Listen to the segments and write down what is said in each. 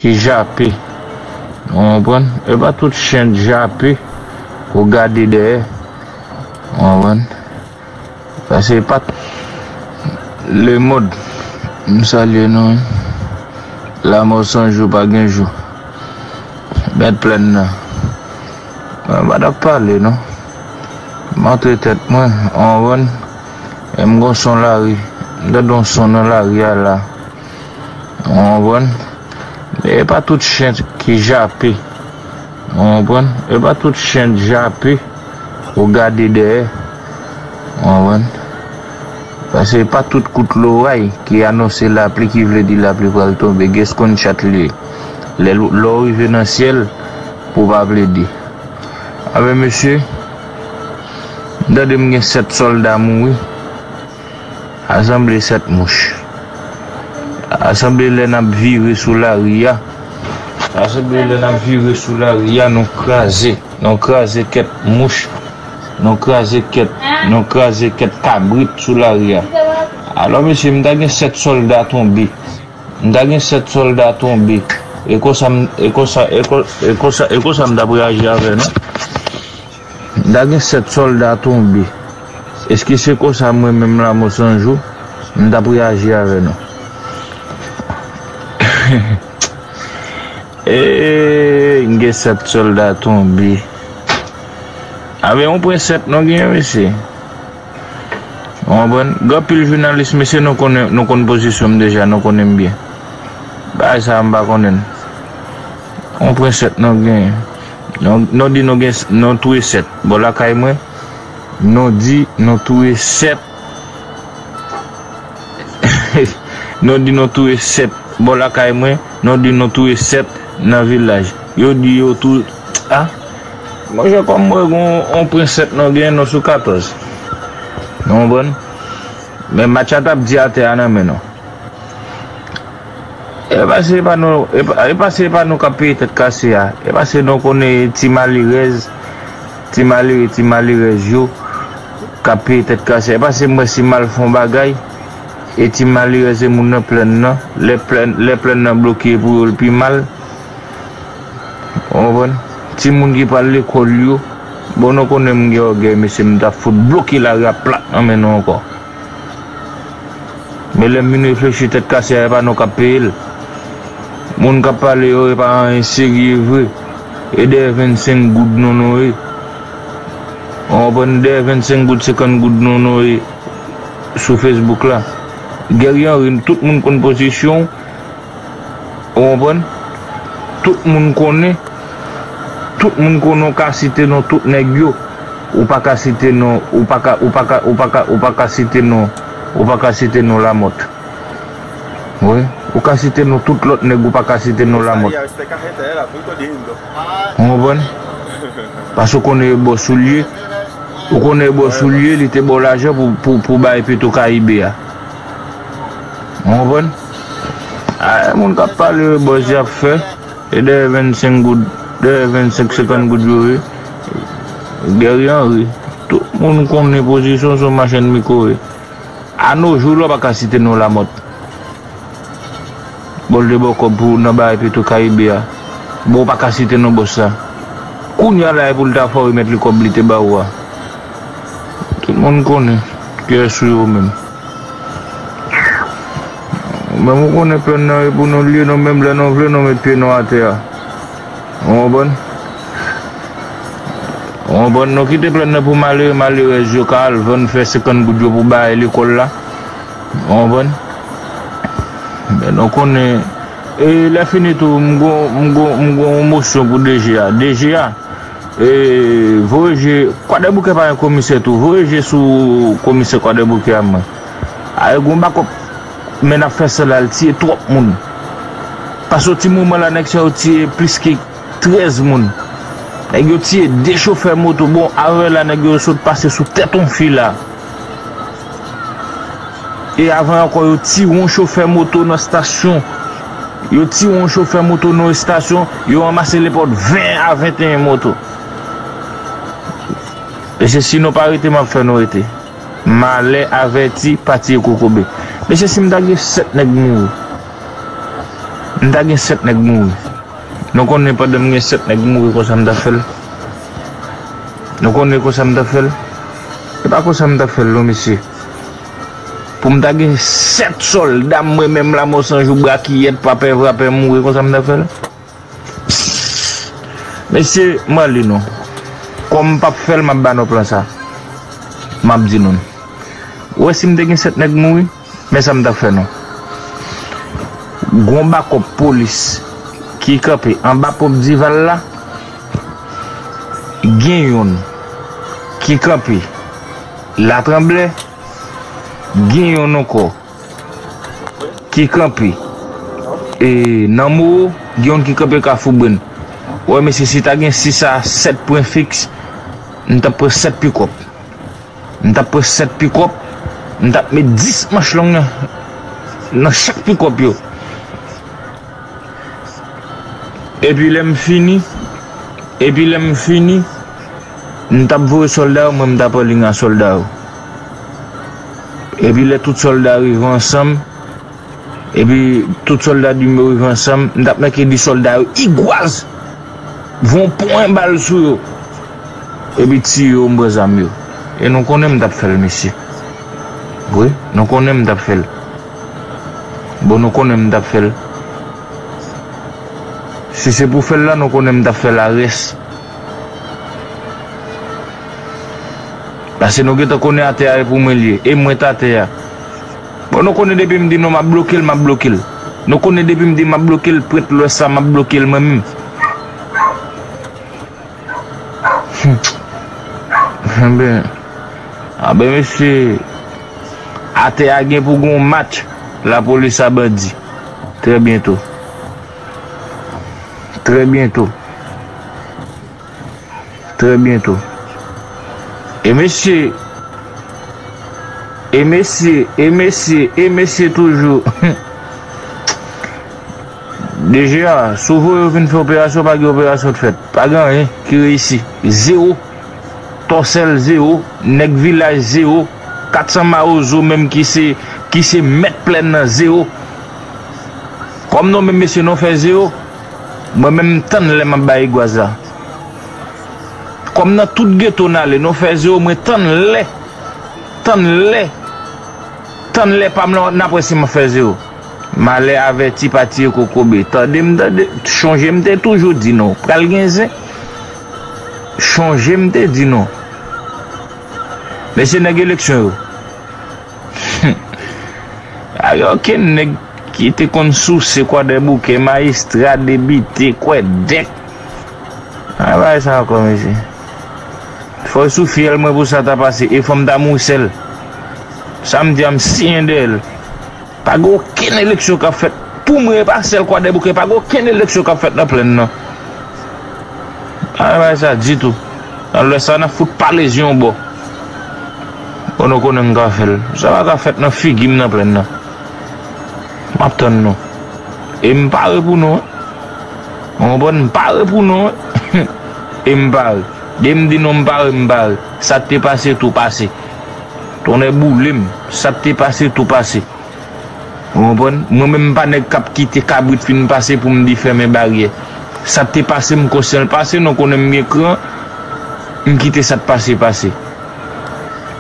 Ki jape ou konprann e pa tout chen jape ou gade dèyè ou konprann paske e pa tout lemond m salye nou wi lamò san jou pa gen jou mèt plèn nan mwen pa tap pale non m antre tèt mwen ou konprann e m gon son lari m tande yon son nan lari a la. Ou konprann? E pa tout chen ki jape. Ou konprann? E pa tout chen jape ou gade dèyè. Ou konprann? Pase e pa tout kout loray ki anonse lapli ki vle di lapli pral tonbe. Gen seconde chat li ye. Lè lè ou rive nan syèl pou pa plede. Anben mesye, m tande m gen 7 sòlda mouri. Asanble 7 mouch. Asanble lè n ap vire sou lari a. Asanble lè n ap vire sou lari a nou kraze. Nou kraze kèk mouch. Nou kraze kèk nou kraze kèk kabrit sou lari a. Alò mesye m ta gen 7 sòlda tonbe. M ta gen 7 sòlda tonbe. E konsa m e konsa e konsa e konsa e konsa m t ap reyaji avè nou. Da gen 7 solda tonbe. Eske se konsa mwen menm lamo sanjou m tap reyaji avè nou eehh gen 7 solda tonbe avè yon pwen 7 non gen mesye ou konprann gen anpil jounalis mesye nou konnen nou konn pozisyon m deja nou konnen m byen bagay sa a m pa konnen l yon pwen 7 non gen. Non di nou gen non tou e 7 bò lakay mwen non di non tou e 7 non di non tou e 7 bò lakay mwen non di non tou e 7 nan vilaj yo di yo tou a monchè kòm m wè gon on pren 7 non gen non sou 14 nou konprann men match la tap di atè a nan men nou. Epa se epa nou epa se epa nou kap peye tèt kase a epa se nou konnen ti malerèz ti malere ti malerèz yo kap peye tèt kase a epa se mwen si mal fon bagay e ti malerèz e moun nan plenn nan lè plenn lè plenn nan bloke pou yo l pi mal ou konprann ti moun ki pral lekòl yo bon nou konnen m gen ògèy mesye m ta fout bloke lari a plat nan men nou ankò. Men lèm vin reflechi tèt kase a epa nou kap peyel moun kap pale yo epa anyen serye vre e dèyè 25 goud non nou ye ou konprann dèyè 25 goud 50 goud non nou ye sou Facebook la Guerrier Henry tout moun konn pozisyonw Ou konprann? Tout moun konnen, tout moun konnen w ka site non tout nèg yo, ou pa ka site non, ou pa ka, ou pa ka, ou pa ka, ou pa ka site non, ou pa ka site non Lamòt. Wi, ou ka site non tout lòt nèg ou pa ka site non Lamòt. Ou konprann? Pase ou konnen yo ba w soulye, ou konnen yo ba w soulye, li te ba w lajan pou, pou, pou w bay Petro Caribe a. Ou konprann? Ayy moun kap pale yo bòz yap fè e dèyè 25 goud dèyè 25 50 goud yo ye Guerrier Henry tout moun konnen pozisyon w se yon machann miko ye a no jou la w paka site non Lamothe bon l te ba w kòb pou nan bagay petro caribe a bon w paka site non bòs la kounya la e pou l ta fè w remèt li kòb li te ba ou a tout moun konnen kiyès ou yo menm. Menm ou konnen plan nan e pou nou lye nou menm lè nou vle nou met pye nou atè a. Ou konprann? Ou konprann? Nou kite plan nan pou malere malerèz yo ka al vann fè 50 goud yo pou baye lekòl la. Ou konprann? Men nou konnen e lè fini tou m gon m gon m gon yon mosyon pou DG a. DG a Voye je kwadèboukè pa gen komisè tou voye je sou komisè kwadèboukè a man ayè gon bakòp men nap fè sèl al tiye twòp moun pa soti moman la nèg sa yo tiye plis ke 13 moun nèg yo tiye 2 chofè moto bon ayè la nèg yo sot pase sou tèt on fi la. E avan ankò yo tire yon chofè moto nan estasyon. Yo tire yon chofè moto nan estasyon, yo ranmase lèpòt 20 a 21 moto. Mesye si nou pa rete map fè nou rete. Malè avèti pa tiye kokobe. Mesye si m ta gen 7 nèg m mouri. M ta gen 7 nèg mouri. Nou konnen pandan m gen 7 nèg mouri konsa m ta fèl. Nou konnen konsa m ta fèl. E pa konsa m tap fèl non mesye. Poum ta gen 7 solda mwen menm la mò san jou brakiyèt pa pè vra pè mouri konsa m tap fèl. Psst mesye m ale non kòm m pap fèl map ba nou plan sa map di nou n ou wè sim te gen 7 nèg mouri. Men sa m tap fè nou. Gon bakòp polis ki kanpe anba ponp Dival la, gen youn ki kanpe Latranblè, gen youn ankò ki kanpe nan Mowo, gen youn ki kanpe Kafoubrenn. Wè mesye si ta gen 6 a 7 pwen fiks, m tap pran 7 pikòp. M tap pran 7 pikòp, m tap met 10 manch long nan chak pikòp yo. Epi lè m fini, epi lè m fini, m tap voye sòlda yo, mwen m tap anliy a sòlda yo. Epi lè tout sòlda rive ansanm, epi tout sòlda dim yo rive ansanm, m tap make di sòlda yo, Igwaz! Voye yon pwen bal sou yo. Epi tiye yo m pran zam yo. E nou konnen m tap fèl mesye wi nou konnen m tap fèl bon nou konnen m tap fèl si se pou fèl la nou konnen m tap fèl a rès pase nou gentan konnen atè a e pou mwen liye e mwen t atè a bon nou konnen depi m di nou map blokel map blokel nou konnen depi m di map blokel prèt lwès la map blokel mwen menm. Anben Anben mesye Atè a gen pou gen yon match lapolis a bandi Trè byento Trè byento Trè byento E mesye E mesye E mesye E mesye toujou DG a, si w voye yo vin fè operasyon pa gen operasyon t fèt. Pa gen anyen ki reyisi. Zewo. Tòsèl zewo. Nèg vilaj zewo. 400 mawozo menm ki se ki se mèt plèn nan zewo. Kòm non menm mesye non fè zewo. Mwen menm m tann lè m ap bay egwaz la. Kòm nan tout geto n ale non fè zewo mwen tann lè tann lè tann lè pa m lan n ap wè si m ap fè zewo. Malè avèti pa tiye kokobe. Tande m tande, chonje m te toujou di nou, pral gen zen. Chonje m te di nou. Mesye nèg eleksyon yo. Humm. Pa gen okenn nèg ki te konn souse kwadèboukè, mayistra, debite, kwèdèk. An bagay sa ankò mesye. Fò l sou fyèl mwen pou sa ta pase e fò m ta mouse l. Sa m di a m siyen dèyè l. Pa gen okenn eleksyon k ap fèt pou mwen e pa sèl Kwadèboukè pa gen okenn eleksyon k ap fèt nan plenn nan. Pa gen bagay sa ditou. Nan lwès la n ap fout pale zye yon bò. Bon nou konnen m ka fè l. Sa pa ka fèt nan figi m nan plenn nan. M ap tann nou. E m pare pou nou. Ou konprann m pare pou nou. E m pare. Depi m di nou m pare m pare. Sa k te pase tou pase. Tonnè boule m, sa k te pase tou pase. Ou konprann? Mwen menm m pa nèg k ap kite kabrit fin pase pou m di fèmen baryè. Sa k te pase m konsyan l pase, non konnen m gen kran, m kite sa k pase pase.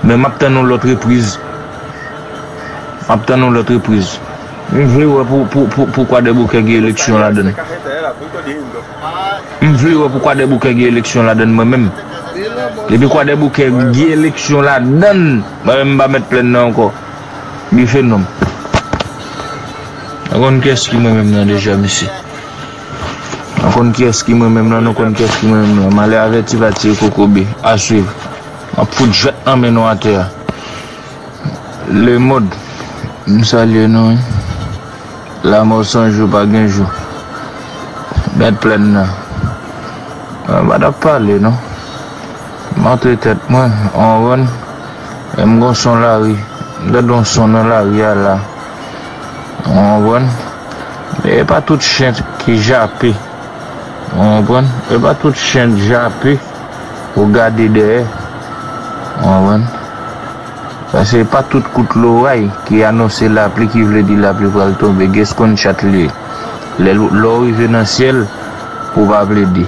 Men m ap tann yon lòt repriz. M ap tann yon lòt repriz. M vle wè pou Kwadèboukè gen eleksyon ladan l. M vle wè pou kwadèboukè gen eleksyon ladann mwen menm. Depi kwadèboukè gen eleksyon ladann mwen menm m pa mèt plèn nan ankò. Bife non m. Nou konn kiyès ki mwen menm lan deja mesye. Nou konn kiyès ki mwen menm lan nou konn kiyès ki mwen menm lan. Malè avèti pa tiye kokobe. A swiv. M ap fout jwèt nan men nou atè a. Le mond m salye nou wi. Lamò san jou pa gen jou. Mèt plèn nan. Mwen pa tap pale non. M antre tèt mwen an wonn e m gon son lari. M tande yon son nan lari a la. Ou konprann? Men e pa tout chen ki jape. Ou konprann? E pa tout chen k jape. Ou gade dèyè. Ou konprann? Paske e pa tout kout loray ki anonse lapli ki vle di lapli pral tonbe. Gès konn chat li ye. Lè ou rive nan syèl, ou pa plede.